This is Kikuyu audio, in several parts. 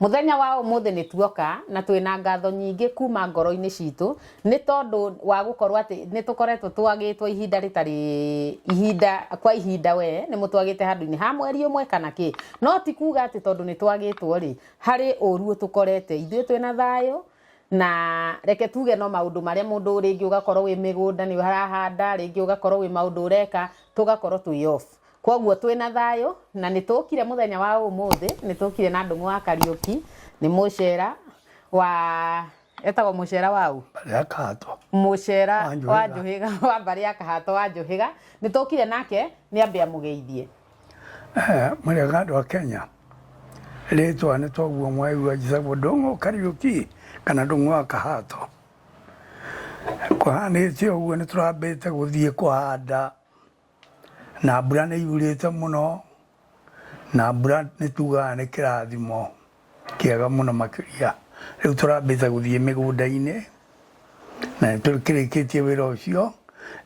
Mũthenya wa ũmũthĩ nĩ tuoka na twĩ na ngatho nyingĩ kuma ngoro-inĩ citũ nĩ tondũ wa gũkorwo atĩ nĩ tũkoretwo twagĩtwo ihinda rĩtarĩ ihinda kwa ihinda we nĩ mũtwagĩte handũ-inĩ ha mweri ũmwe kana kĩ no ti kuga atĩ tondũ nĩ twagĩtwo rĩ harĩ ũru ũtũkorete ithuĩ twĩ na thayũ na reke tuge no maũndũ marĩa mũndũ rĩngĩ ũgakorwo wĩ mĩgũnda nĩ ũrahanda rĩngĩ ũgakorwo wĩ maũndũ ũreka tũgakorwo twĩ off Kwoguo twĩ na thayũ na nĩ tũkire mũthenya wa ũmũthĩ, nĩ tũkire na ndũng'ũ wa Kariũki, nĩ mũcera wa etagwo mũcera wa ũ? Rĩa kahatwa. Mũcera Wa Njũhĩga. wa Njũhĩga wa mbarĩ ya Kahato wa Njũhĩga, nĩ tũkire nake nĩ ambe amũgeithie. Eh, Mũrĩega andũ a Kenya. Rĩtwa nĩ toguo mwaigua njĩtagwo Ndũng'ũ Kariũki kana Ndũng'ũ wa Kahato. Kũhanĩte ũguo nĩ tũrambĩte gũthiĩ kũhanda Na mbura nĩ yurĩte mũno, na mbura nĩ tugaga nĩ kĩrathimo kĩega mũno makĩria. Rĩu tũrambĩte gũthiĩ mĩgũnda-inĩ, na nĩ tũkĩrĩkĩtie wĩra ũcio,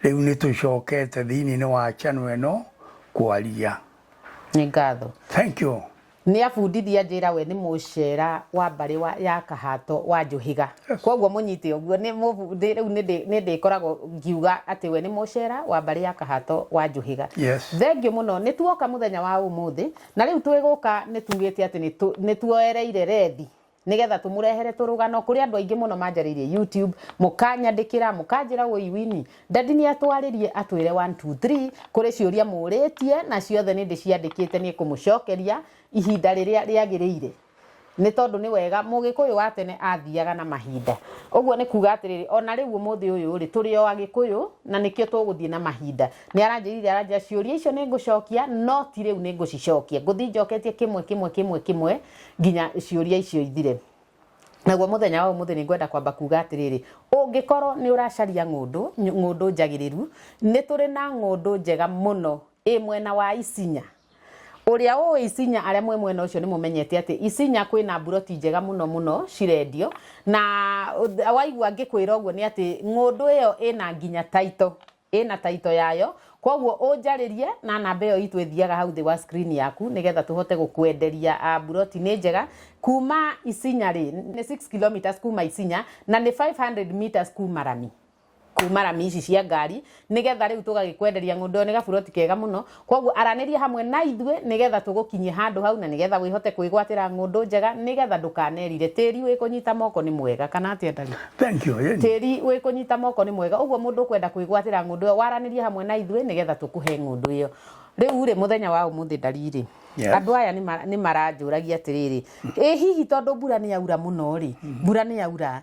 rĩu nĩ tũcokete thĩiniĩ-inĩ wa channel ĩno kwaria. Nĩ ngatho. Thank you. Nĩabundithia njĩra we nĩ mũcera wa mbarĩ wa ya kahato wa njũhĩga kwoguo mũnyite ũguo nĩ mũbundĩ rĩu nĩndĩ- nĩndĩkoragwo ngiuga atĩ we nĩ mũcera wa mbarĩ ya kahato wa njũhĩga Yes. thengiũ mũno nĩ tuoka mũthenya wa ũmũthĩ na rĩu twĩgũka nĩ tugĩte atĩ nĩtũ- nĩtuoereire rethi nĩgetha tũmũrehere tũrũgano kũrĩ andũ aingĩ mũno manjarĩirie YouTube mũkanyandĩkĩra mũkanjĩra woi wini dadi nĩ atwarĩrie atwĩre 1 2 3 kũrĩ ciũria mũrĩtie na ciothe nĩ ndĩciandĩkĩte nĩ kũmũcokeria ihinda rĩrĩa rĩagĩrĩire nĩ tondũ nĩ wega mũgĩkũyũ wa tene athiaga na mahinda ũguo nĩ kuga atĩrĩrĩ ona rĩu ũmũthĩ ũyũ rĩ tũrĩ o agĩkũyũ na nĩkĩo tũgũthiĩ na mahinda nĩ aranjĩrire aranjĩra ciũria icio nĩ ngũcokia no ti rĩu nĩ ngũcicokia ngũthiĩ njoketie kĩmwe kĩmwe kĩmwe kĩmwe nginya ciũria icio ithire naguo muthenya wa umuthi ni ngwenda kwamba kuga atiriri ungikorwo ni uracaria ngundu ngundu njagiriru ni turi na ngundu njega muno i mwena wa isinya uria ui isinya aria mwe mwena ucio ni mumenyete ati isinya kwina mburoti njega muno muno cirendio na waigua ngikwira uguo ni ati ngundu iyo ina nginya taito ĩna taito yayo koguo ũnjarĩrie na namba ĩyo itũ ĩthiaga hau thĩ wa screen yaku nĩgetha tũhote gũkwenderia a buroti nĩ njega kuma Isinya rĩ nĩ 6 kilometers kuma Isinya na nĩ 500 meters kuma Rami kuma rami ici cia ngari nĩgetha rĩu tũgagĩkwenderia ng'ũndũ ĩyo nĩ gaburoti kega mũno Kwoguo aranĩria hamwe na ithuĩ nĩgetha tũgũkinyie handũ hau na nĩgetha wĩhote kwĩgwatĩra ng'ũndũ njega nĩgetha ndũkanerire. Tĩri wĩ kũnyita moko nĩ mwega, kana atĩa Ndari? Thank you, yeah. Tĩri wĩ kũnyita moko nĩ mwega. Ũguo mũndũ ũkwenda kwĩgwatĩra ng'ũndũ ĩyo, waranĩria hamwe na ithuĩ nĩgetha tũkũhe ng'ũndũ ĩyo. Rĩu-rĩ, mũthenya wa ũmũthĩ Ndari-rĩ, Yes. andũ aya nĩ ma- nĩ maranjũragia atĩrĩrĩ, ĩ hihi tondũ mbura nĩ yaura mũno-rĩ, mbura nĩ yaura,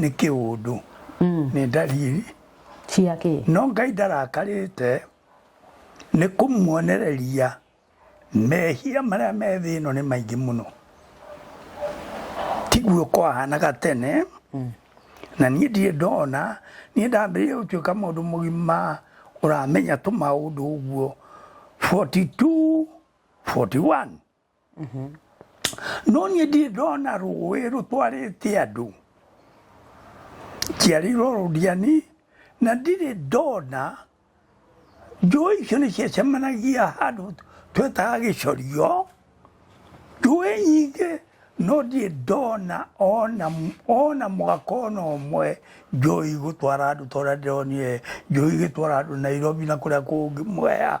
nĩ kĩũndũ nĩ ndariri cia kĩ no ngai ndarakarĩte nĩ kũmuonereria mehia marĩa me thĩ ĩno nĩ maingĩ mũno tiguo kwahanaga tene na niĩ ndirĩ ndona niĩ ndambĩrĩria gũtuĩka mũndũ mũgima ũramenya tũmaũndũ ũguo 42 41 no niĩ ndirĩ ndona rũĩ rũtwarĩte andũ njiarĩirwo rũndiani na ndirĩ ndona njũĩ icio nĩ ciacemanagia handũ twetaga gĩcorio njũĩ nyingĩ no ndirĩ ndona ona ona mwaka ona ũmwe njũĩ gũtwara andũ tondũ ndĩronire njũĩ igĩtwara andũ nairobi na kũrĩa kũngĩ mwea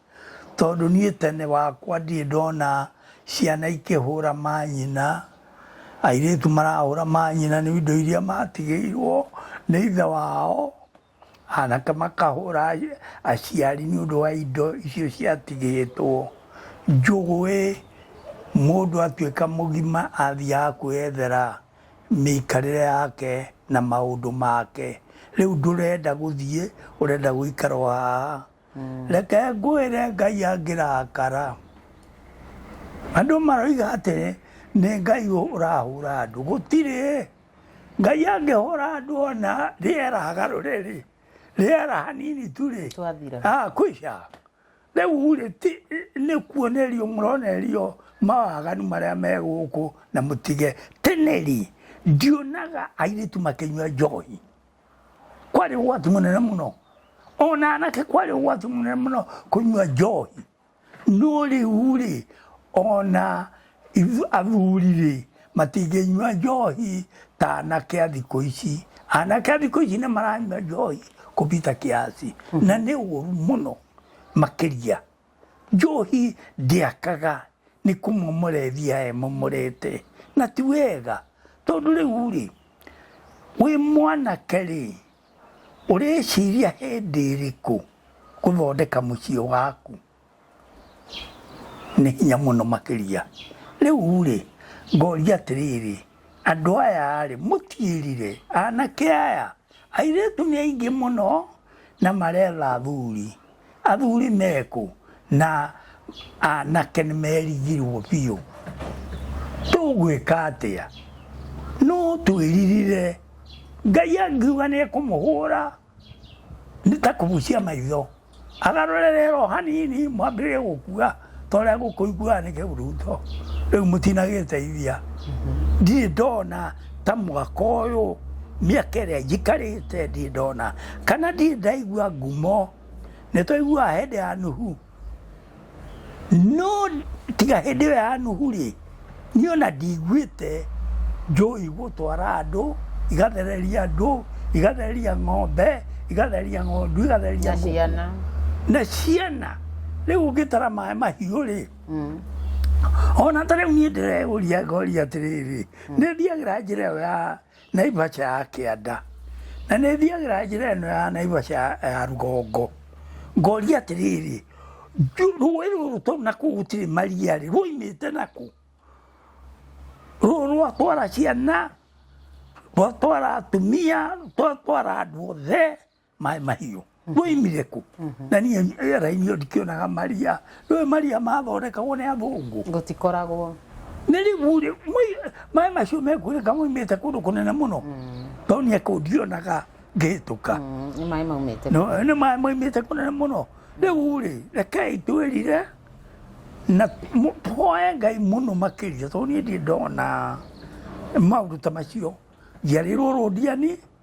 tondũ niĩ tene wakwa ndirĩ ndona ciana ikĩhũra manyina, airĩtu marahũra manyina nĩ indo iria matigĩirwo nĩ ithe wao, anake makahũra aciari nĩ ũndũ wa indo icio ciatigĩtwo. Njũgũĩ mũndũ atuĩka mũgima athiaga kwĩyethera mĩikarĩre yake na maũndũ make. Rĩu ndũrenda gũthiĩ ũrenda gũikara o haha. reke ngwĩre ngai angĩrakara andũ maroiga atĩrĩ nĩ ngai ũrahũra andũ gũtirĩ ngai angĩhũra andũ ona rĩera garũre rĩ rĩera hanini tu rĩ ah, kwisha rĩu rĩ nĩ kuonerio mũronerio mawaganu marĩa me gũkũ na mũtige teneri ndionaga airĩtu makĩnyua njohi kwarĩ ũgwati mũnene mũno ona anake kwarĩ ũgwati mũnene mũno kũnyua njohi no rĩu rĩ ona ithu- athuri rĩ matingĩnyua njohi ta anake a thikũ ici anake a thikũ ici nĩ maranyua njohi kũbita kiasi na nĩ ũru mũno makĩria Njohi ndĩakaga nĩ kũmomora ĩthiaga ĩmomorete, na ti wega. Tondũ rĩu-rĩ, wĩ mwanake-rĩ, ũreciria hĩndĩ ĩrĩkũ gũthondeka mũciĩ waku? Nĩ hinya mũno makĩria. Rĩu-rĩ, ngoria atĩrĩrĩ, andũ aya-rĩ, mũtiĩrire, anake aya, airĩtu nĩ aingĩ mũno na maretha athuri, Athuri mekũ na anake nĩ merigirwo biũ. Tũgwĩka atĩa? No twĩririre. Ngai angiuga nĩ ekũmũhũra nĩ ta kũbucia maitho. Agarũre rero hanini mwambĩrĩrie gũkua. toria gukuigua ni kiburuto riu mutinagiteithia ndirĩ ndona ta mwaka ũyũ mĩaka ĩrĩa njikarĩte ndirĩ ndona kana ndirĩ ndaigua ngumo nĩ twaiguaga hĩndĩ ya nuhu no tiga hĩndĩ ĩyo ya nuhu rĩ Niĩ ona ndiguĩte njũĩ gũtwara andũ, igathereria andũ, igathereria ng'ombe, igathereria ng'ondu, igathereria na ngũkũ. ciana na ciana rĩu ũngĩtara maĩ mahiũ rĩ ona ta rĩu niĩ ndĩreũria ngoria atĩrĩrĩ nĩ thiagĩra njĩra ĩyo ya Naivasha ya kĩanda na nĩ thiagĩra njĩra ĩno ya Naivasha ya rũgongo ngoria atĩrĩrĩ rũĩ rũrũ tondũ nakuo gũtirĩ maria rĩ rũimĩte naku rũrũ rwatwara ciana rwatwara atumia rwatwara andũ othe maĩ mahiũ moimire kũ na niĩ rĩera-inĩ ndikĩonaga maria rĩu maria mathondekagwo nĩ athũngũ gũtikoragwo nĩ rĩu rĩ mwĩ- maĩ macio mekuoneka moimĩte kũndũ kũnene mũno tondũ niĩ kũu ndionaga ngĩhĩtũka Mm, nĩ maĩ maumĩte No, nĩ maĩ moimĩte kũnene mũno rĩu rĩ rekei twĩrire na mu- tũhoe ngai mũno makĩria tondũ niĩ ndiĩ ndona maũndũ ta macio njiarĩrwo rũndiani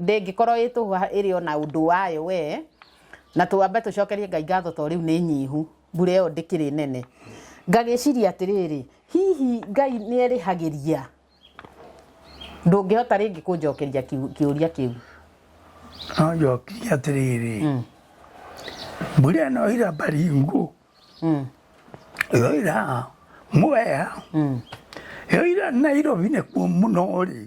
ndĩngĩkorwo ĩ tũhũa ĩrĩ ona ũndũ wayo we na twambe tũcokerie ngai ngatho to rĩu nĩ nyihu mbura ĩyo ndĩkĩrĩ nene ngagĩciria atĩrĩrĩ hihi ngai nĩ erĩhagĩria ndũngĩhota rĩngĩ kũnjokeria kiu- kĩũria kĩu no njokirie atĩrĩrĩ mbura ĩno ira baringu Mm, ĩyo ira mwea mm, ĩyo ira nairobi nĩkuo mũno rĩ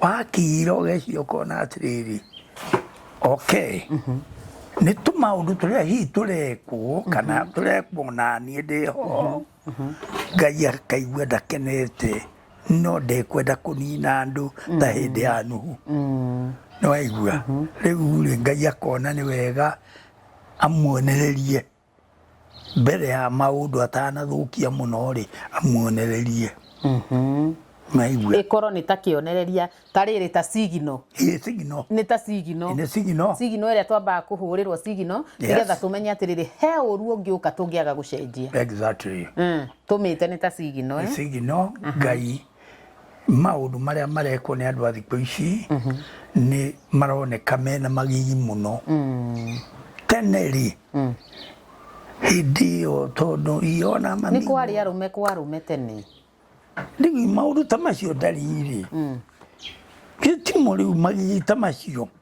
wakira ũgeciria ũkona atĩrĩrĩ okay mhm. nĩ tũmaũndũ tũrĩa hihi tũrekwo kana mhm. tũrekwo na niĩ ndĩ ho mhm. ngai akaigua ndakenete no ndekwenda kũnina andũ ta mm. hĩndĩ ya nuhu mm. nĩ waigua rĩu rĩ ngai akona nĩ wega amuonererie mbere ya maũndũ atanathũkia mũno-rĩ amuonererie maigue ĩkorwo nĩ ta kĩonereria ta rĩrĩ ta sigino ĩ sigino nĩ ta sigino nĩ sigino sigino ĩrĩa twambaga kũhũrĩrwo sigino Yes. nĩgetha tũmenye atĩrĩrĩ he ũru ũngĩũka tũngĩaga gũcenjia exactly Mm, tũmĩte nĩ ta sigino nĩ eh? sigino ngai maũndũ marĩa marekwo nĩ andũ a thikũ ici nĩ maroneka mena magigi mũno tene rĩ hĩndĩ ĩyo tondũ iona nĩ kwarĩ arũme kwa arũme tene rĩu maũndũ ta macio ndarĩ-rĩ gĩtimo rĩu magigi ta macio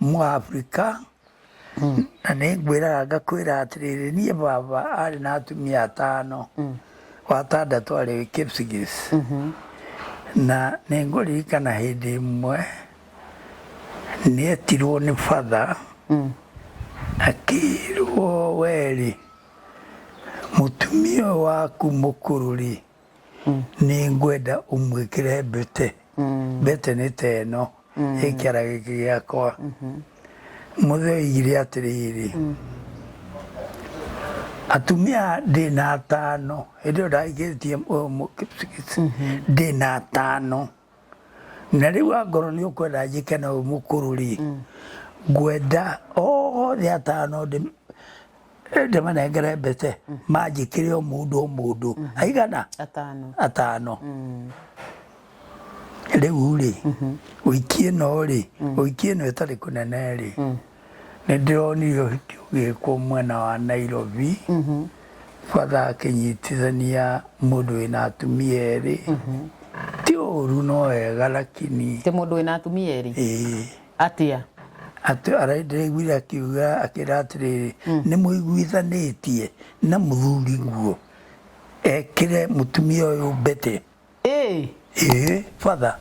Mũafrika, na nĩ ngwĩraga ngakwĩra atĩrĩrĩ, niĩ baba arĩ na atumia atano, watandatũ arĩ Kipsigis. Na nĩ ngũririkana hĩndĩ ĩmwe nĩ etirwo nĩ batha akĩrwo werĩ mũtumia ũyũ waku mũkũrũ rĩ nĩ ngwenda ũmwĩkĩre mbete mbete nĩ ta ĩno ĩ kĩara gĩkĩ gĩakwa mũthee oigire atĩrĩrĩ atumia ndĩ na atano hĩndĩ ĩyo ndagĩkĩtie ndĩ na atano na rĩu angorwo nĩ ũkwenda njĩke na ũyũ mũkũrũ rĩ mm. ngwenda othe atano ndĩmanengere mbete mm. manjĩkĩre o mũndũ o mũndũ mm. aigana atano rĩu rĩ ũikie no rĩ ũikie no ĩtarĩ kũnene rĩ nĩ ndĩronire ũhiki ũgĩkwo mwena wa Nairobi bata akĩnyitithania mũndũ wĩna atumia erĩ ti ũru no wega lakini tä må ndå wä na atumia erä ĩĩ atä a atĩ araiguire akiuga akĩra atĩrĩrĩ nĩ mũiguithanĩtie na mũthuri guo ekĩre mũtumia ũyũ mbete ä ĩĩ batha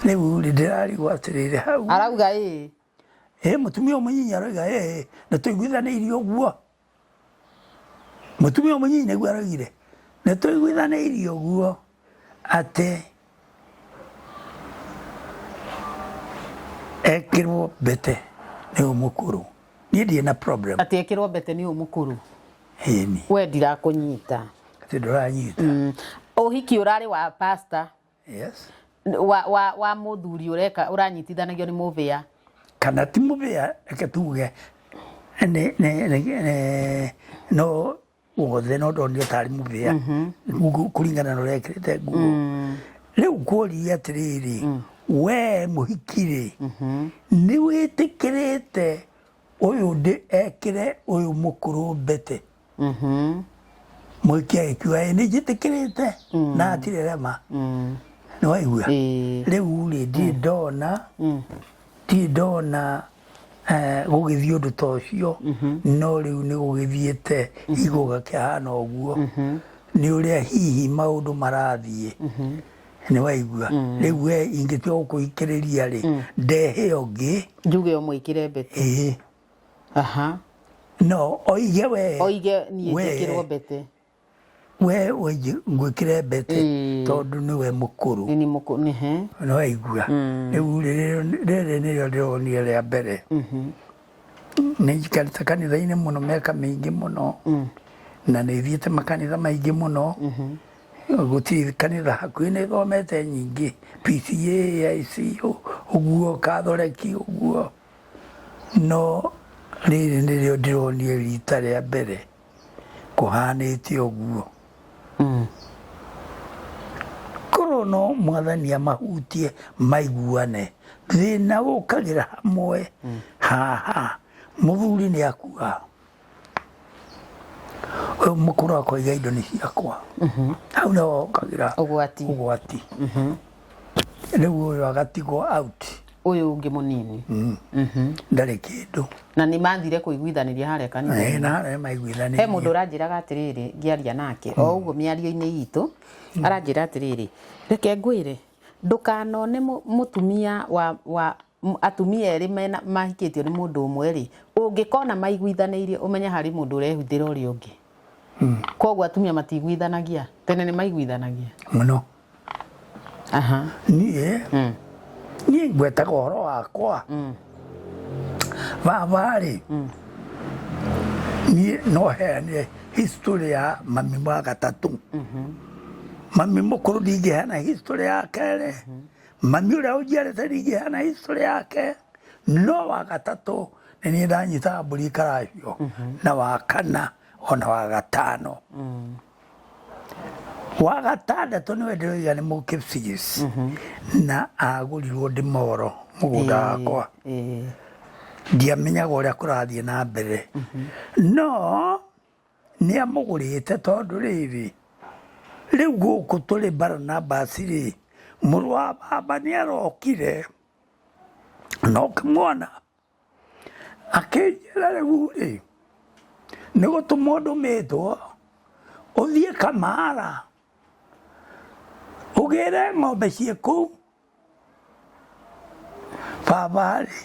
rĩu rĩ ndĩrarigwo atĩrĩrĩ hau arauga ä ĩ mũtumia ũyũ mũnyinyi aroiga ĩ nĩ tũiguithanĩirie ũguo mũtumia ũyũ mũnyinyi nĩguo aroigire nĩ tũiguithanĩirie ũguo atĩ ekĩrwo mbete nĩ ũyũ mũkũrũ niĩ ndirĩ na problem atĩ ekĩrwo mbete nĩ ũyũ mũkũrũ ĩni we ndirakũnyita atĩ ndũranyita ũhiki ũrarĩ wa pasta yes wa wa wa muthuri ureka uranyitithanagio ni muvia kana ti mubea reke tuge nĩ- nĩ- nĩ- nĩ- no wothe no ndonire tarĩ mubea Ngu- kũringana na ũrĩa ekĩrĩte nguo rĩu kuoria atĩrĩrĩ we mũhikirĩ nĩ wĩtĩkĩrĩte ũyũ ndĩ ekĩre ũyũ mũkũrũ mbete mũikia ĩkua ĩ nĩ njĩtĩkĩrĩte na atirĩ rema nĩ waigua Ĩĩ. rĩu rĩ ndirĩ ndona ndirĩ ndona eh, gũgĩthiĩ ũndũ ta ũcio no rĩu nĩ gũgĩthiĩte igũ gakĩhana ũguo nĩ ũrĩa hihi maũndũ marathiĩ nĩ waigua rĩu we ingĩtua gũkũhikĩrĩria rĩ ndehe ũngĩ njuge ũmũĩkĩre mbete ĩĩ aha no oige we oige niĩ we- njĩkĩrwo mbete we oige ngwĩkĩre mbete Ĩĩ. tondũ nĩwe mũkũrũ nĩ mũkũ nĩ he nĩ waigua rĩu rĩrĩ- rĩrĩ nĩrĩo ndĩronire rĩa mbere nĩ njikarĩte kanitha-inĩ mũno mĩaka mĩingĩ mũno na nĩ thiĩte makanitha maingĩ mũno gũtirĩ kanitha hakuhĩ nĩ thomete nyingĩ PCA, ICO, ũguo kathoreki ũguo No rĩrĩ nĩrĩo ndĩronire rita rĩa mbere kũhanĩte ũguo. Korwo no mwathani amahutie maiguane, thĩna ũkagĩra hamwe haha, mũthuri nĩ akua. ũyũ mũkũrũ akoiga indo nĩ ciakwa hau nĩho hokagĩra ũgwati ũgwati rĩu ũyũ agatigwo out ũyũ ũngĩ mũnini ndarĩ kĩndũ na nĩ mathire kũiguithanĩria harĩa kanitha Eh, na harĩa he maiguithanĩirie mũndũ ũranjĩraga atĩrĩrĩ ngĩaria nake o ũguo mĩario-inĩ itũ aranjĩra atĩrĩrĩ reke ngwĩre ndũkanone mũ- mũtumia wa, wa m- atumia erĩ mena mahikĩtio nĩ mũndũ ũmwe rĩ ũngĩkona maiguithanĩirie ũmenye harĩ mũndũ ũrehuthĩra ũrĩa ũngĩ koguo atumia matiguithanagia tene nĩ maiguithanagia mũno aha niĩ Mm. niĩ ngwetaga ũhoro wakwa baba rĩ niĩ no heane history ya mami wa gatatũ mami mũkũrũ ndingĩheana history ya kerĩ Mami ũrĩa ũnjiarĩte ningĩ hana history yake no wa gatatũ nĩ niĩ ndanyitaga mbũri karahio na wa kana ona wa gatano wa gatandatũ nĩwe ndĩroiga nĩ mũkipsigis na agũrirwo ndĩmoro mũgũnda wakwa Ĩĩ. ndiamenyaga ũrĩa kũrathiĩ na mbere no Nĩ amũgũrĩte tondũ rĩrĩ, rĩu gũkũ tũrĩ Baranabasi-rĩ, mũrũ wa baba nĩ arokire, na ũkĩmwona, akĩnjĩra rĩu-rĩ, nĩ gũtũmwo ndũmĩtwo, ũthiĩ Kamara, ũgĩre ng'ombe ciĩ kũu. Baba-rĩ,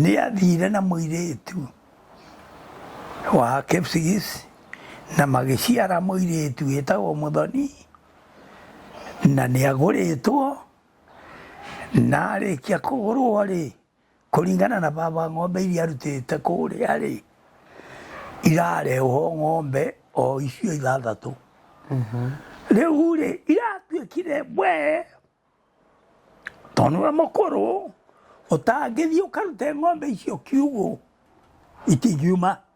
nĩathire na mũirĩtu wa Kipsigis na magĩciara mũirĩtu wĩtagwo Mũthoni, na nĩagũrĩtwo, na arĩkia kũgũrwo-rĩ, Kũringana na baba ng'ombe iria arutĩte kũrĩa rĩ, irarehwo ng'ombe o icio ithathatũ. Mhm. Rĩu rĩ, iratuĩkire we tondũ nĩwe mũkũrũ ũtangĩthiĩ ũkarute ng'ombe icio kiugũ itingiuma.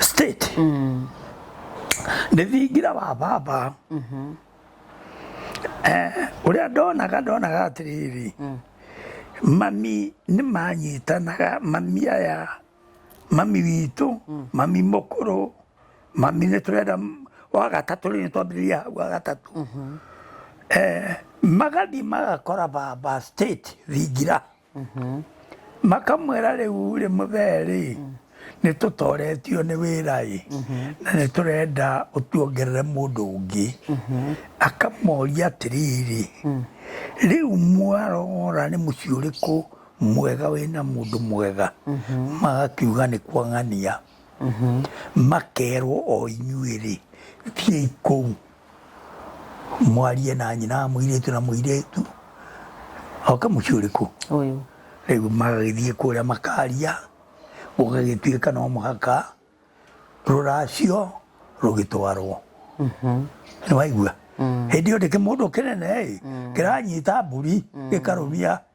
state ndĩthingira wa baba Eh, ũrĩa ndonaga ndonaga atĩrĩrĩ mami nĩ manyitanaga mami aya mami witũ mami mũkũrũ mami nĩ tũrenda m- wa gatatũ rĩu twambĩrĩria hau wa gatatũ Eh, magathiĩ magakora baba state thingira makamwĩra rĩu rĩ mũthee-rĩ nĩ tũtoretio nĩ wĩra-ĩ na nĩ tũrenda ũtuongerere mũndũ ũngĩ akamoria atĩrĩrĩ rĩu mwarora nĩ mũciĩ ũrĩkũ mwega wĩna mũndũ mwega magakiuga nĩ kwa ng'ania makerwo o inyuĩ-rĩ thiĩi kũu mwarie na nyina mwirĩtu na mwirĩtu oka mũciĩ ũrĩkũ ũyũ rĩu magagĩthiĩ kũrĩa makaria gũgagĩtuĩka no mũhaka rũracio rũgĩtwarwo nĩ waigua hĩndĩ ĩyo ndĩkĩ mũndũ kĩnene ĩ kĩranyita mbũri gĩkarũmia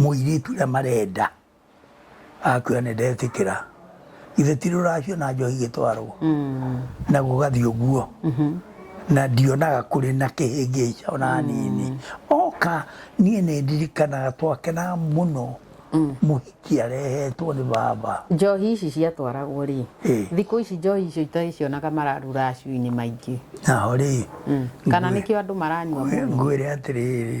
Mũirĩtu ũrĩa marenda akwĩra nĩ ndetĩkĩra ithe ti rũracio na njohi igĩtwarwo mm. na gũgathiĩ ũguo mm-hmm. na ndionaga kũrĩ na kĩhĩngĩca ona mm. hanini oka niĩ nĩ ndirikanaga twakenaga mũno mm. mũhiki arehetwo nĩ baba njohi ici ciatwaragwo rĩ thikũ ici njohi icio itagĩcionaga mararu racio-inĩ maingĩ naho rĩ kana nĩkĩo andũ maranyua ngwĩre atĩrĩrĩ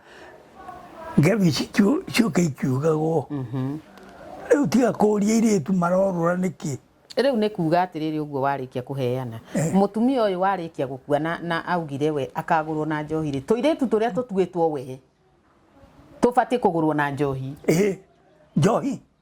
ngebici cioka ikiugagwo rĩu tiga kũria irĩtu marorũra nĩkĩ rĩu nĩ kuga atĩrĩrĩ ũguo warĩkia kũheana eh. mũtumia ũyũ warĩkia gũkua na, na augire we akagũrwo na njohi rĩ tũirĩtu tũrĩa tũtuĩtwo we tũbatiĩ kũgũrwo na njohi eh, njohi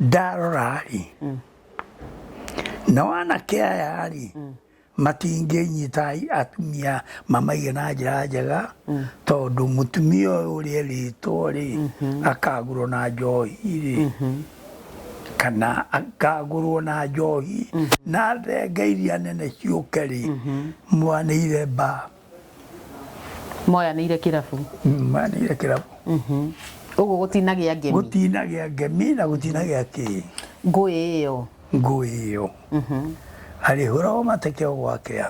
ndarora-rĩ nao anake aya-rĩ matingĩnyita atumia mamaige na njĩra njega tondũ mũtumia ũyũ ũrĩa erĩtwo-rĩ akagũrwo na njohi-rĩ kana akagũrwo na njohi na thenge iria nene ciũke-rĩ mwanĩire mba moyanĩire kĩrabu Mm, manire kĩrabu ũguo gũtinagĩa ngemi gũtinagĩa ngemi na gũtinagĩa kĩ ngũĩ ĩyo ngũĩ ĩyo arĩhũragwo mateke o gwakĩa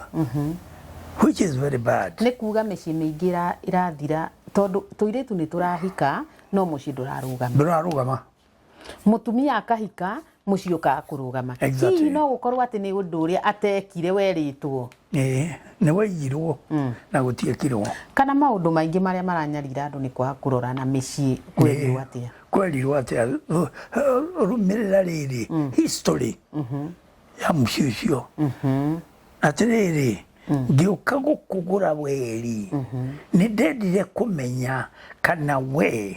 which is very bad nĩ kuga mĩciĩ mĩingĩ ĩra- ĩrathira tondũ tũirĩtu nĩ tũrahika no mũciĩ ndũrarũgama ndũrarũgama mutumia akahika muciĩ ũkaga kũrũgama Exactly. hihi no gũkorwo atĩ nĩ ũndũ ũrĩa atekire werĩtwo Eh, nĩ waigirwo na gũtiekirwo kana maũndũ maingĩ marĩa maranyarira andũ nĩ kwaga kũrora na mĩciĩ kwerirwo atĩa kwerirwo atĩa ru- rũmĩrĩra rĩrĩ history ya mũciĩ ũcio atĩrĩrĩ ngĩũka gũkũgũra weri nĩ ndendire kũmenya kana we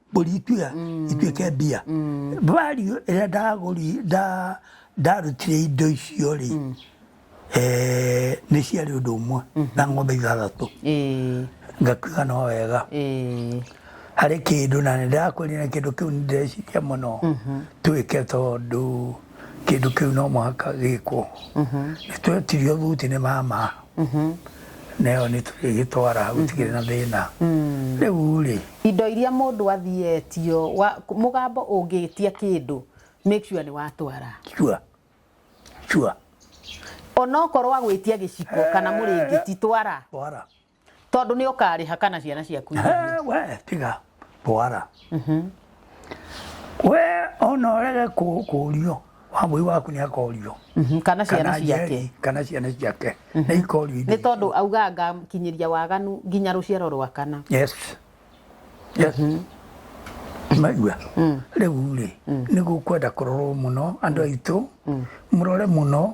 mbũri ituĩka mm. ituĩke mbia mm. value ĩrĩa ndagũri nda ndarutire indo icio rĩ mm. eh, nĩ ciarĩ ũndũ ũmwe mm-hmm. na ng'ombe ithathatũ ngakiuga no wega harĩ kĩndũ na nĩ ndakwĩrire kĩndũ kĩu nĩ ndĩreciria mũno mm-hmm. twĩke tondũ kĩndũ kĩu no mũhaka gĩkwo nĩ twetirio thuti nĩ mama na ĩyo nĩ tũrĩgĩtwara gũtikĩrĩ na thĩna rĩu rĩ indo iria mũndũ athietio wa- mũgambo ũngĩtia kĩndũ make sure nĩ watwara cua cua onokorwo agwĩtia gĩciko kana mũrĩngĩti twara twara tondå nä å karä ha kana ciana ciaku irĩhe. Eh, we tiga twara we ona orege kũrio wamũi waku nĩ akorio Mhm, kana ciana kana ciake njeri, kana ciana ciake nĩ ikorio nä tondå auga ngakinyä ria waganu nginya rå ciaro rwa kana yes yes maigua rĩu rĩ nĩ gũkwenda kũrorwo mũno andũ aitũ mũrore mũno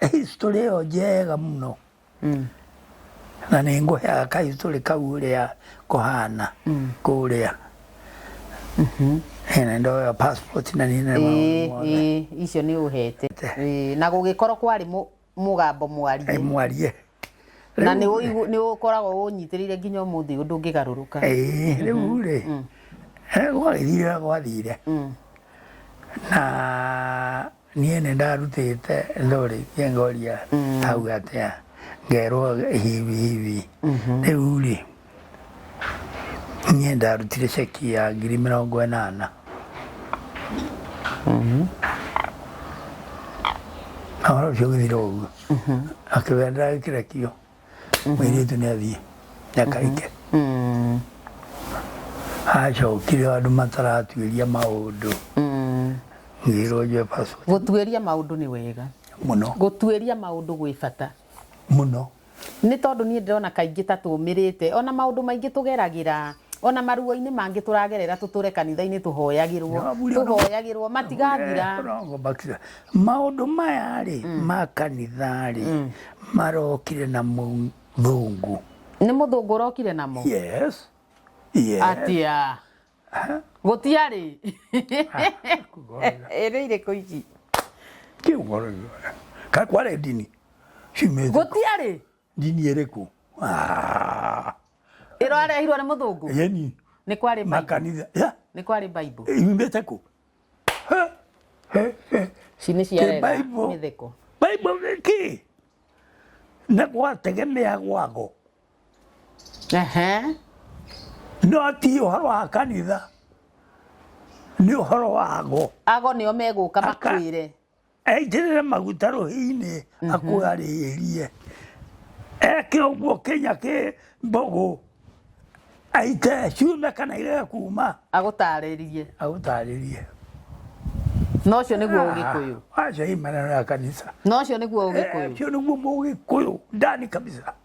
historĩ ĩyo njega mũno mm. na nĩ ngũheaga ka historĩ kau ũrĩa kũhana mm. kũrĩa mm-hmm. na ndoya passport na nĩ na maũndũ mothe icio nĩ ũhete na gũgĩkorwo kwarĩ mũgambo mwarie mwarie na nĩ ũigu- nĩ ũkoragwo ũnyitĩrĩire nginya ũmũthĩ ũndũ ũngĩgarũrũka Ĩĩ, rĩu rĩ eh, gwagĩthire ũrĩa gwathire na niĩ nĩ ndarutĩte ndorĩ kĩngoria hau atĩa ngerwo hivi hivi rĩu rĩ Niĩ ndarutire ceki ya ngiri mĩrongo ĩnana. Na ũhoro ũcio ũgĩthira ũguo. Akĩwĩra ndagĩkĩra kio. Mũirĩtu nĩ athiĩ. Nĩakarike. Acokire andũ mataratuĩria maũndũ. Ngĩrwo njoe passport. Gũtuĩria maũndũ nĩ wega. Mũno. Gũtuĩria maũndũ gwĩ bata. Mũno. Nĩ tondũ niĩ ndĩrona kaingĩ ta tũũmĩrĩte. O na maũndũ maingĩ tũgeragĩra, o na maruo-inĩ mangĩ tũragerera tũtũre kanitha-inĩ tũhoyagĩrwo, tũhoyagĩrwo matigathira. Maũndũ maya-rĩ ma kanitha-rĩ marokire na mũthũngũ. Nĩ mũthũngũ ũrokire namo? Yes, yes. Atĩa? gũtiarĩ ĩrĩ irĩkũ ici ka kware ndini cimĩte gũtiarĩ ndini ĩrĩkũ Ah, ĩro arehirwo nĩ mũthũngũ yani nĩ kwarĩ Bible. makanitha ya nĩ kwarĩ bible imĩte kũ Ha, he, he. ici nĩ ciarega Bible. mĩtheko Bible ki na gwategemea gwako Ehe. no ti ũhoro wa kanitha nĩ ũhoro wago Ago nĩo megũka Aka- makwĩre. aitĩrĩre maguta rũhinĩ akũgarĩrie eke ũguo kĩnya kĩ mbũgũ aite ciume kana irege kuma Agũtarĩrie. agũtarĩrie Na ũcio nĩguo ũgĩkũyũ. acio imaneno ya kanitha Na ũcio nĩguo ũgĩkũyũ. acio nĩguo mũgĩkũyũ ndani kabisa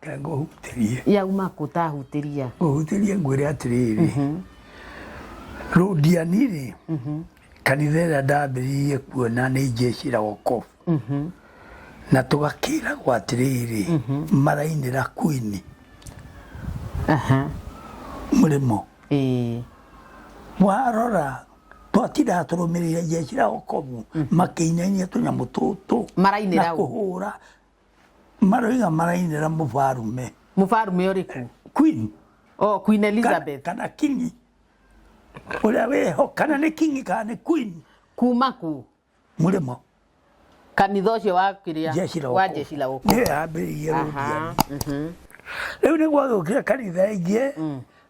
Tanga ũhutĩrie. Yauma kũ ta hutĩria? Ũhutĩrie ngwĩre atĩrĩrĩ, mhm. rũndiani-rĩ, mhm. kanitha ĩrĩa ndambĩrĩirie kuona nĩ njecira wokovu mhm. na tũgakĩragwo atĩrĩrĩ marainĩra kwini mũrĩmo warora twatindaga tũrũmĩrĩire njecira wokovu makĩinainia tũnyamũ tũtũ na kũhũra maroiga marainĩra mũbarume mũbarume ũrĩkũ queen oh, queen elizabeth kana kingi ũrĩa wĩho kana nĩ kingi kana nĩ queen kuma ku mũrĩmo kanitha ũcio wa kĩrĩa wa jeshi la wokovu nĩwe ambĩrĩirie rũthiani rĩu nĩguo agĩũkire kanitha ĩngĩ mm.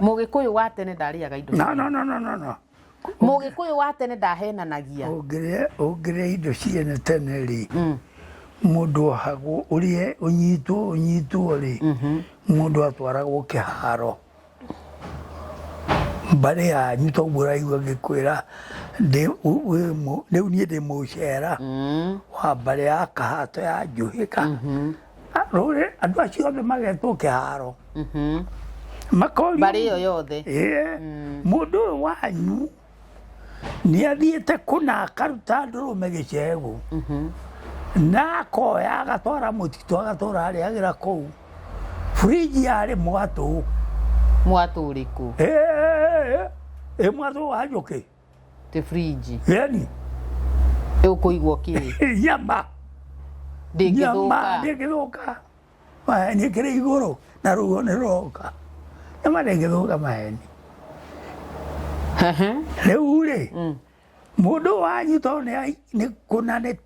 Mũgĩkũyũ wa tene ndarĩaga indo. No, no, no, no, no, no. Mũgĩkũyũ wa tene ndahenanagia. Ũngĩrĩa ũngĩrĩa indo ciene tene rĩ, mũndũ ohagwo ũrĩe ũnyitwo ũnyitwo rĩ, mũndũ atwaragwo kĩharo. Mbarĩ yanyu toguo ũraigua ngĩkwĩra ndĩ wĩ- wĩ mũ- rĩu niĩ ndĩ mũcera wa mbarĩ ya Kahato ya Njũhĩga Ah, rũrĩ andũ acio othe magetwo kĩharo Mhm. makorio mbarĩ ĩyo yothe Ĩĩ, mũndũ ũyũ wanyu nĩ athiĩte kũna akaruta ndũrũme gĩcegũ na akoya agatwara mũtitũ agatũra arĩagĩra kũu furiji yarĩ mwatũ mwatũ ũrĩkũ Ĩĩ, ĩĩ, ĩĩ, ĩĩ, mwatũ wa njũkĩ tä frinji yani ä å kå igwo kä nyama ndä ngä thå nyama ka ndĩngĩthũka maheni kĩrĩ igũrũ na ruo nĩ rũroka nyama ndĩngĩthũka maheni rĩu rĩ mũndũ wanyu to nĩ ai- nĩ kũna nĩ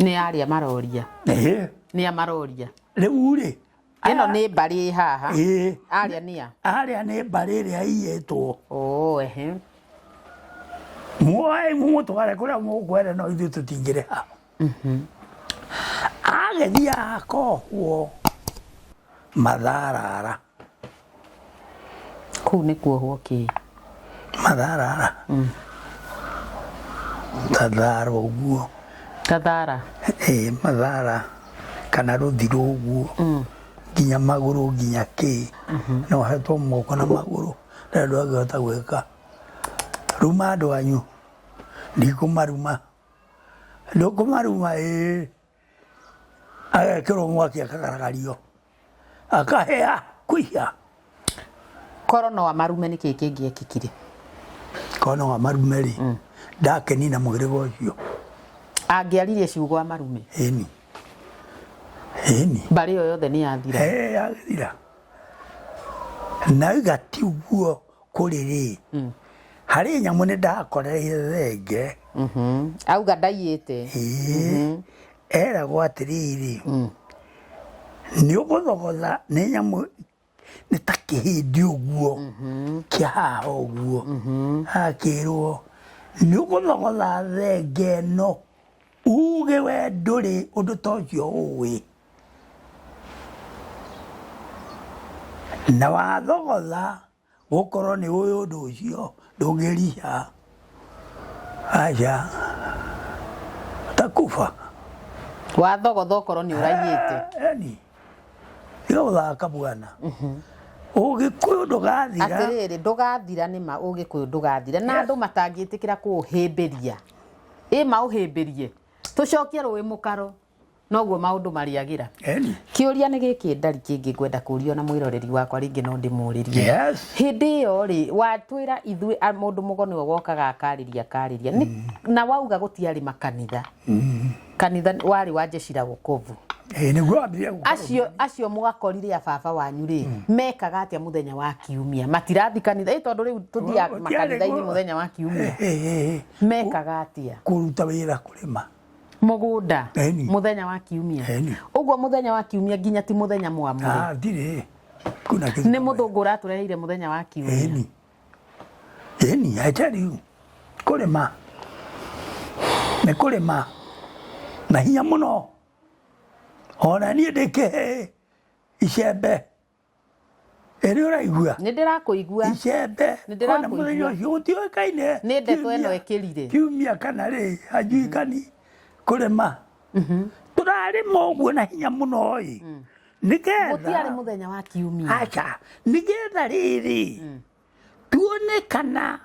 nĩ arĩa maroria Ĩhĩ. nĩ a maroria rĩu rĩ ĩno nĩ mbarĩ ĩ haha ĩĩ arĩa nĩ a arĩa nĩ mbarĩ ĩrĩa iyĩtwo oo ehe muoe mumũtware kũrĩa mũkwere no ithuĩ tũtingĩrĩ ha agĩthiaga kohuo matharara kuu nĩ kuohwo kĩĩ matharara kathara ũguo kathara eh, mathara kana rũthirũ ũguo nginya magũrũ nginya kĩ na ũhetwo moko na magũrũ na andũ angĩhota gwĩka ruma andũ anyu ndikũmaruma ndũkũmaruma ĩĩ agekĩrwo mwaki akagaragario akahĩa kũiya korwo no amarume nĩ kĩĩ kĩngĩekĩkire kona wa marume rĩ mm. ndakeni na mũhĩrĩga ũcio angĩaririe ciugo amarume ĩni ĩni mbarĩ ĩyo yothe nĩ yathira agĩthira na igatiuguo kũrĩrĩ harĩ nyamũ nĩ ndakoreire thenge Mhm. auga ndaiyĩte Ĩĩ. eragwo atĩrĩrĩ nĩ ũgũthogotha nĩ nyamũ nĩ ta kĩhĩndi ũguo kĩa haha ũguo akĩrwo nĩ ũgũthogotha thenge ĩno uge we ndũrĩ ũndũ ta ũcio ũĩ Na wathogotha gũkorwo nĩ ũyũ ũndũ ũcio ndũngĩriha aca takuba wathogotha okorwo nĩ ũraiyĩte yani tiga gũthaka bwana ũgĩkũyũ ndũgathira atĩrĩrĩ ndũgathira nĩ ma ũgĩkũyũ ndũgathira na andũ matangĩtĩkĩra kũũhĩmbĩria ĩ maũhĩmbĩrie tũcokie rũĩ mũkaro noguo maundu mariagira Eni. kiuria ni giki ndari kingi ngwenda kuria na mwiroreri wakwa ringi no ndimuririe Yes. hindi iyo ri watwira ithui a- mundu mugo niwe wokaga akariria akariria Ni- na wauga gutiari makanitha kanitha wari wa jeshi la wokovu Ĩĩ, nĩguo wambirie gũkorwo. acio acio mugakorire a baba wanyu ri mekaga atia muthenya wa kiumia matirathi kanitha ĩ tondu riu tuthiaga Gũtiarĩ makanitha-ini gwa- muthenya wa kiumia Ĩĩ, ĩĩ, ĩĩ. mekaga atia kũruta wĩra kũrĩma mũgũnda Eni. mũthenya wa kiumia Eni. ũguo mũthenya wa kiumia nginya ti mũthenya mwamũre Ah, ndirĩ kuna kitu nĩ kama mũthũngũ ũratũreheire mũthenya wa kiumia Eni. Eni, I tell you. Kũrĩma. Nĩ kũrĩma. Na hinya mũno. Ona niĩ ndĩkĩhe icembe. ĩrĩ ũraigua nĩ ndĩrakũigua icembe Nĩ ndĩrakũigua. ona mũthenya ũcio gũtiũĩkaine nĩ ndeto ĩno kiumia- ĩkĩrire kiumia kana rĩ anjuikani kũrĩma tũrarĩma ũguo na hinya mũno ĩ gũtiarĩ nĩgetha mũthenya wa kiumia aca nĩgetha rĩrĩ tuone kana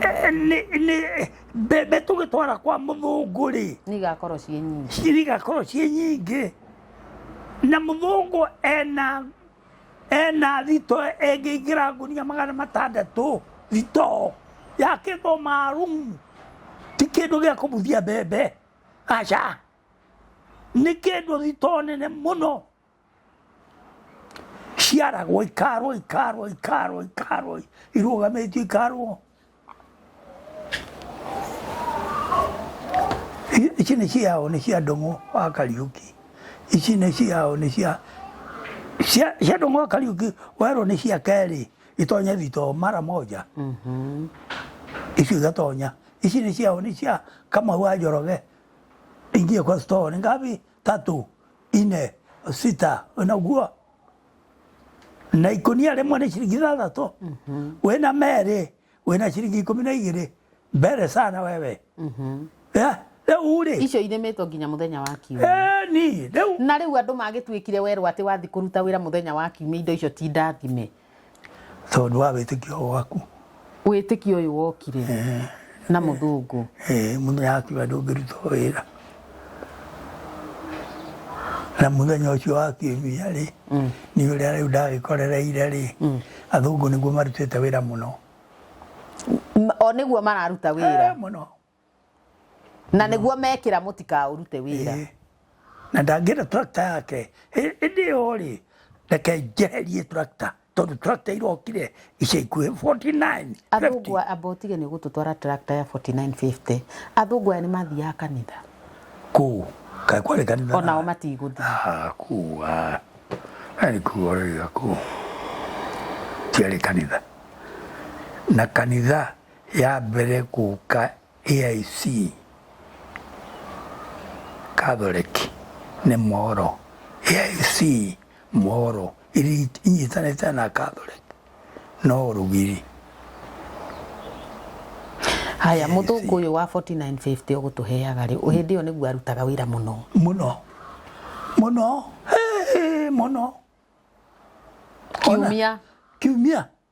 eh, nĩ- nĩ- mbembe tũgĩtwara kwa mũthũngũ rĩ nĩ igakorwo ciĩ nyingĩ cirigakorwo ciĩ nyingĩ na mũthũngũ ena ena thito ĩngĩingĩra ngunia magana matandatũ thito yakĩtwo marumu ti kĩndũ gĩa kũbuthia mbembe aca nĩ kĩndũ thito nene mũno ciaragwo ikarwo ikarwo ikarwo ikarwo irũgamĩtio ikarwo I- ici nĩ ciao nĩ cia ndũng'ũ wa kariũki ici nĩ ciao nĩ cia cia cia ndũng'ũ wa kariũki werwo nĩ cia kerĩ itonye thito mara moja ici igatonya ici nĩ ciao nĩ cia kamau wa njoroge ingie kwa store ni ngapi tatũ, ine, sita, na ũguo na ikũnia rĩmwe nĩ ciringi ithathatũ wĩna merĩ wĩna ciringi ikũmi na igĩrĩ mbere sana wewe Eh, rĩu rĩ icio irĩmĩtwo nginya mũthenya wa kiumia eh, ni rĩu na rĩu andũ magĩtuĩkire werwo atĩ wathiĩ kũruta wĩra mũthenya wa kiumia indo icio ti ndathime tondũ wa wĩtĩkio waku wĩtĩkio ũyũ wokire na mũthũngũ Eh, mũthenya wakiuga ndũngĩruta wĩra na mũthenya ũcio wakiumia rĩ nĩ ũrĩa rĩu ndagĩkorereire rĩ athũngũ nĩguo marutĩte wĩra mũno Ma- o nĩguo mararuta wĩra Eh, mũno na nĩguo mekĩra mũtikaũrute wĩra Ĩĩ. na ndangĩenda tractor yake Ĩ- ĩndĩ yo rĩ reke njeherie tractor tondũ tractor irokire ica ikuhĩ 49 athũngũ amba ũtige nĩ gũtũtwara tractor ya 4950 athũngũ aya nĩ mathiaga kanitha kuu kaĩ kwarĩ kanitha onao na- matigũthiĩ Ah, kuu ah. Yaani kuu oraiga kuu tiarĩ kanitha na kanitha ya mbere gũka AIC Catholic nĩ Moro. AIC Moro iria inyitanĩte na Catholic no rũgiri. haya AIC. mũthũngũ ũyũ wa 4950 ũgũtũheaga rĩ hĩndĩ ĩyo nĩguo arutaga wĩra mũno mũno mũno eh, mũno Ona- kiumia kiumia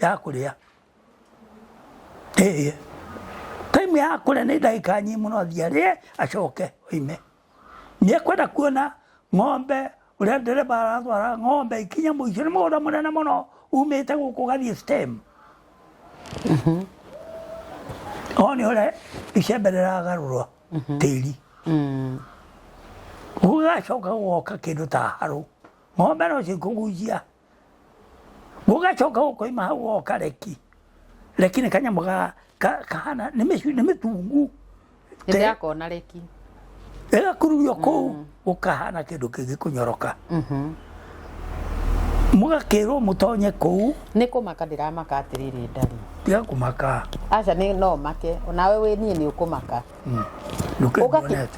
ya kũrĩa ĩĩ time ya kũrĩa nĩ ndagĩka nyinyi mũno athiĩ arĩe acoke oime nĩ ekwenda kuona ng'ombe ũrĩa ndereba aratwara ng'ombe ikinya mũico nĩ mũgũnda mũnene mũno umĩte gũkũ gathiĩ stem o nĩ ũrĩa icembe rĩragarũrwo tĩri gũgacoka gwoka kĩndũ ta harũ ng'ombe no cikũgucia Gũgacoka gũkoima hau goka reki. Reki nĩ kanyamũ ga ka- kahana nĩ mĩcu- nĩ mĩtungu. Nĩ ndakona reki. Ĩgakururio kũu gũkahana kĩndũ kĩngĩ kũnyoroka. Mũgakĩrwo mũtonye kũu Nĩ kũmaka ndĩramaka atĩrĩrĩ ndari. tiga kũmaka. Aca nĩ no make. Onawe wĩ niĩ nĩ ũkũmaka.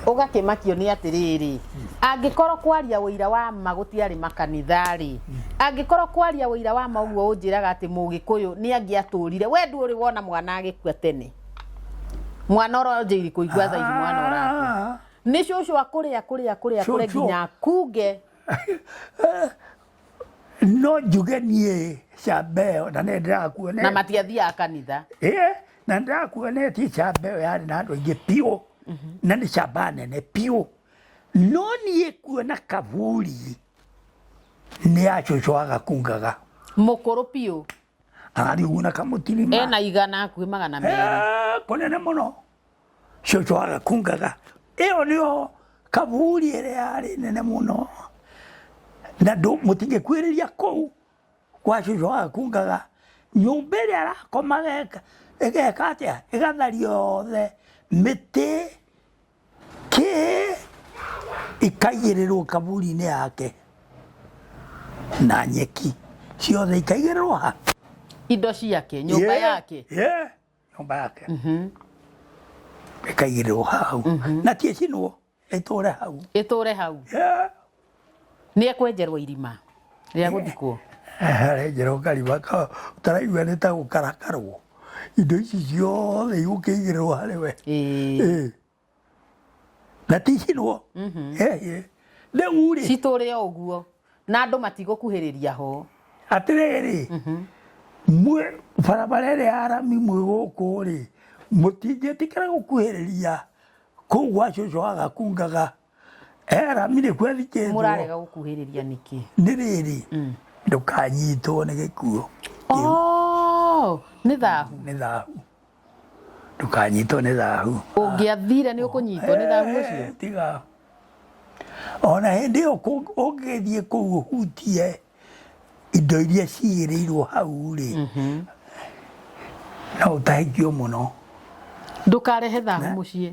ũgakĩmakio nĩ atĩrĩrĩ angĩkorwo kwaria ũira wa ma gũtiarĩ makanitha-rĩ angĩkorwo kwaria ũira wa ma ũguo ũnjĩraga atĩ mũgĩkũyũ nĩ angĩatũrire we ndũrĩ wona mwana agĩkua tene mwana ũronjĩ irikũ igwa thaithi mwana ũrakua nĩ cũcũ akũrĩa kũrĩa kũrĩa kũrĩa Cũcũ. nginya kunge no njuge niä cambeo na nä ndärakuone na matiathiaga kanitha Ĩĩ, na ndakuonetie camba ĩyo yarĩ na andũ aingĩ biũ na nĩ camba nene biũ no niĩ kuona kaburi nĩ acũcwaga kungaga mũkũrũ biũ arariuguna kamũtirima ena igana hakuhĩ magana merĩ Eh, kũnene mũno cio twaga kungaga ĩyo nĩyo kaburi ĩrĩa yarĩ nene mũno na ndũ- mũtingĩkuĩrĩria kũu kwa cucu waga kungaga nyũmba ĩrĩa arakomaga ĩka- ĩgeka atĩa ĩgathari yothe mĩtĩ kĩ ikaigĩrĩrwo kaburi-inĩ yake na nyeki ciothe ikaigĩrĩrwo ha indo ciake nyũmba Yeah, yake yeah. nyũmba yake ĩkaigĩrĩrwo hau na ti ĩcinwo ĩtũre hau ĩtũre hau Yeah. nĩ ekwenjerwo irima rĩa gũthikwo arenjerwo karima ka ũtaraigua nĩ ta gũkarakarwo indo ici ciothe igũkĩigĩrĩrwo harĩ we Ĩĩ. Ĩĩ. na tihirwo mhm. eh, ndeng'u rĩ citũrĩ o ũguo na andũ matigũkuhĩrĩria ho atĩrĩrĩ mhm. mwĩ barabara ĩrĩa ya rami mwĩ gũkũ rĩ mũtingĩtĩkĩra gũkuhĩrĩria kũu gwa cũcũ agakungaga eramire kwethikĩtwo mũrarega gũkuhĩrĩria nĩkĩ nĩ rĩrĩ Mm. ndũkanyitwo nĩ gĩkuo Oh, nĩ thahu nĩ thahu ndũkanyitwo nĩ thahu ũngĩathire nĩ ũkũnyitwo nĩ thahu ũcio Eh, tiga ona hĩndĩ ĩyo kũ- ũngĩthiĩ kũu ũhutie indo iria cigĩrĩirwo hau rĩ no ũtahĩkio mũno ndũkarehe thahu mũciĩ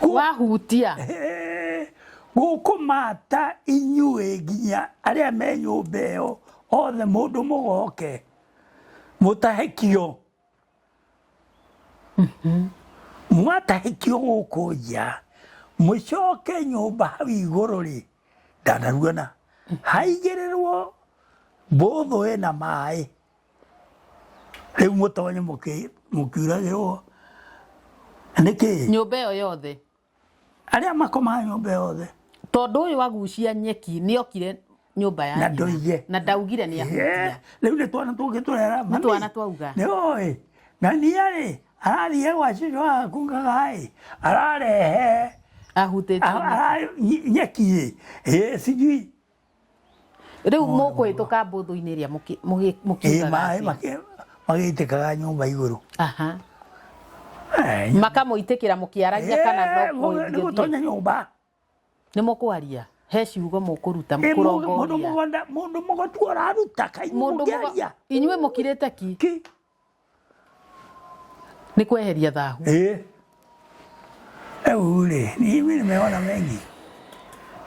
Gu- wahutia gũkũmata inyuĩ nginya arĩa me nyũmba ĩyo othe mũndũ mũgoke mũtahĩkio mwatahĩkio gũkũ nja mũcoke nyũmba hau igũrũ rĩ ndanaruona haigĩrĩrwo mbũthũ ĩna maĩ rĩu mũtonye mũkĩ- mũkiuragĩrwo nĩkĩ nyũmba ĩyo yothe arĩa makomaga nyũmba yothe tondũ ũyũ agucia nyeki nĩ okire nyũmba na yake ndoige na ndaugire nĩ ahutia rä u nä twana tå ngä tå rera Nĩ twana twauga. nä oä na niarä arathiä gwa cicå wakungaga ararehe ahutĩtie nyeki. nyeki ä sijui rä u må kå hä tå ka mbåthå-inä ä rä a må Ĩĩ, kiugaga maĩ atĩa? makĩ- magĩitĩkaga nyũmba igũrũ Aha. Eh, makamå itä kä ra må kä aragia kana eh, no mũndũ nĩ kå gũtonya nyũmba nä må kwaria he ciugo må kå ruta Eh, kå mũndũ- mũndũ rongoria mũgũnda- mũndũ mũgũtua ũraruta kaimũ mũndå mũkĩaria inyuä må kirä te ki Ki. Nĩ kweheria thahu. Eh. Hebu ule, mimi nimeona mengi.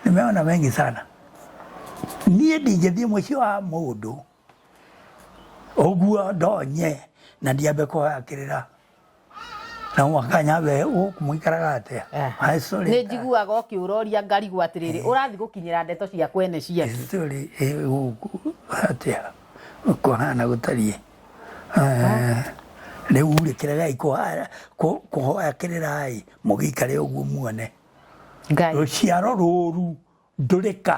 Nimeona mengi sana. Niĩ ndingĩthiĩ mũciĩ wa mũndũ ũguo ndonye na ndiambe kũhakĩrĩra. na wakanya we ũkũmũikaraga atĩa Eh. I sorry. nä njiguaga å kä å roria ngarigwo atä rä rä å rathiĩ gå kinyä ra ndeto cia kwene cia kĩ Story ĩ gũkũ atĩa kũhana gũtariĩ rĩu rĩ kĩregai kũha- kũ- kũhoya kĩrĩrai mũgĩikare ũguo muone ngai rũciaro rũru ndũrĩka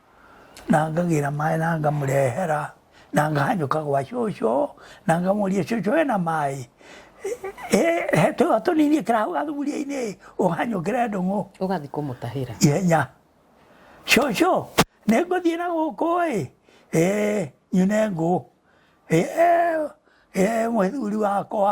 na ngagĩra maĩ na ngamũrehera na ngahanyũka gwa cũcũ na ngamũria cũcũ wĩna maĩ he tũa tũnini ĩkĩra hau gathuburia-inĩ ũhanyũkĩre ndũng'ũ ũgathiĩ kũmũtahĩra ihenya cũcũ nĩ ngũthiĩ na gũkũ ĩ ĩ nyune ngũ ĩ ĩ mũthuri wakwa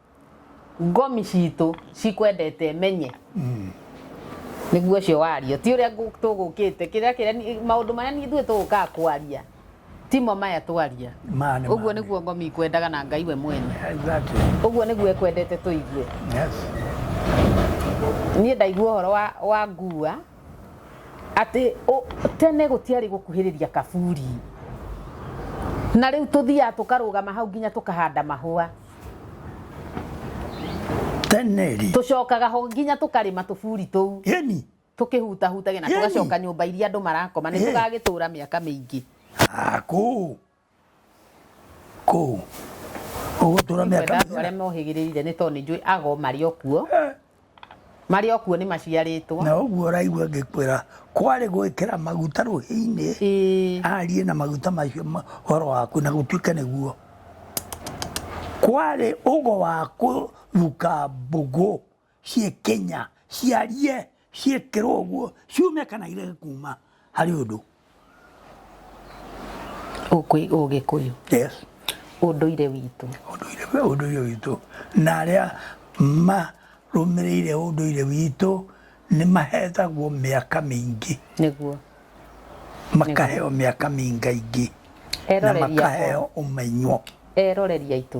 ngomi citå cikwendete menye nĩguo ũcio wario ti ũrĩa ngũ- tũgũkĩte kĩrĩa kĩrĩa maũndũ marĩa niĩ ithuĩ tũgũkaga kwaria timo maya twaria Maya nĩ ũguo maya. nĩguo ngomi ikwendaga na ngai we mwene Exactly. ũguo nĩguo ekwendete tũigue Yes. niä ndaigua å horo wa, wa ngua atä tene gå tiarä gå kuhä rä ria kaburi na rä u tå thiaga tå karå gama hau nginya tå kahanda mahå teneri tucokaga ho nginya tukarima tuburi tuu yeni tukihutahutagia na Yeni. tugacoka nyumba iria andu marakoma ni Eh. tugagitura miaka mingi Ah, kuu kuu ugutura miaka kwenda andu aria mohigirire ni tondu ni njui ago mari okuo marĩ o kuo nĩ maciarĩtwo na ũguo ũraigua ngĩkwĩra kwarĩ gwĩkĩra maguta rũhĩ-inĩ Ĩĩ. arie na maguta macio ma- ũhoro waku na gũtuĩke nĩguo kwarĩ ũgo wa kũruka mbũgũ ciĩ kenya ciarie ciĩkĩrwo ũguo ciume kana irege kuma harĩ ũndũ ũgĩkũyũ yes ũndũire witũ ũndũire ũndũire witũ na arĩa marũmĩrĩire ũndũire witũ nĩ mahetagwo mĩaka mĩingĩ nĩguo makaheo mĩaka mĩingaingĩ na Eroreri akwa. makaheo ũmenyo eroreri aitũ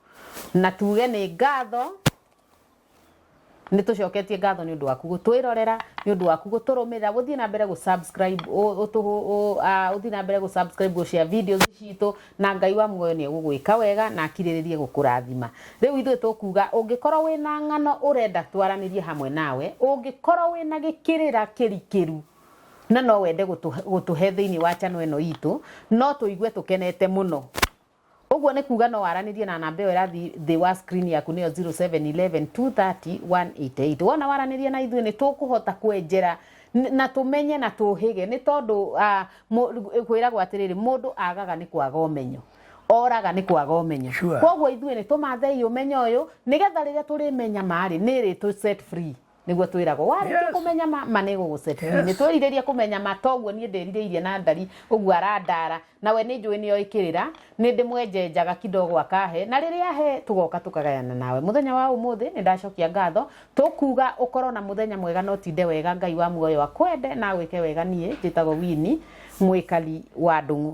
na tuge nĩ ngatho nĩ tũcoketie ngatho nĩ ũndũ waku gũtwĩrorera nĩ ũndũ waku gũtũrũmĩrĩra gũthiĩ na mbere gũsubscribe ũ- ũtũhũ- ũ- ah, ũthiĩ na mbere gũsubscribe gũcia videos citũ na ngai wa muoyo nĩ egũgwĩka wega na akirĩrĩrie gũkũrathima rĩu ithuĩ tũkuga ũngĩkorwo wĩ na ng'ano ũrenda twaranĩrie hamwe nawe ũngĩkorwo wĩ na gĩkĩrĩra kĩrikĩru na no wende gũtũ- gũtũhe thĩinĩ wa channel ĩno itũ no tũigue tũkenete mũno Ũguo nĩ kuga no waranĩrie na namba ĩyo ĩrathiĩ thĩ wa screen yaku nĩyo 0711230188. Wona waranĩrie na ithuĩ nĩ tũkũhota kwenjera n- na tũmenye na tũhĩge nĩ tondũ ah, mũ- kwĩragwo atĩrĩrĩ mũndũ agaga nĩ kwaga ũmenyo oraga nĩ kwaga ũmenyo Sure. koguo ithuĩ nĩ tũmathei ũmenyo ũyũ nĩgetha rĩrĩa tũrĩmenya marĩ nĩ ĩrĩ tũ set free niguo twiragwo warĩkia Yes. kũmenya ma ma nĩ gũgũcetini Yes. nĩ twerirĩria kũmenya ma toguo niĩ ndĩrirĩirie na ndari ũguo arandara nawe nĩ njũĩ nĩ oĩkĩrĩra nĩ ndĩmwenjenjaga kidogo akahe na rĩrĩa ahe tũgoka tũkagayana nawe mũthenya wa ũmũthĩ nĩ ndacokia ngatho tũkuga ũkorwo na mũthenya mwega na ũtinde wega ngai wa muoyo akwende na agwĩke wega niĩ njĩtagwo wini mwĩkari wa ndũng'ũ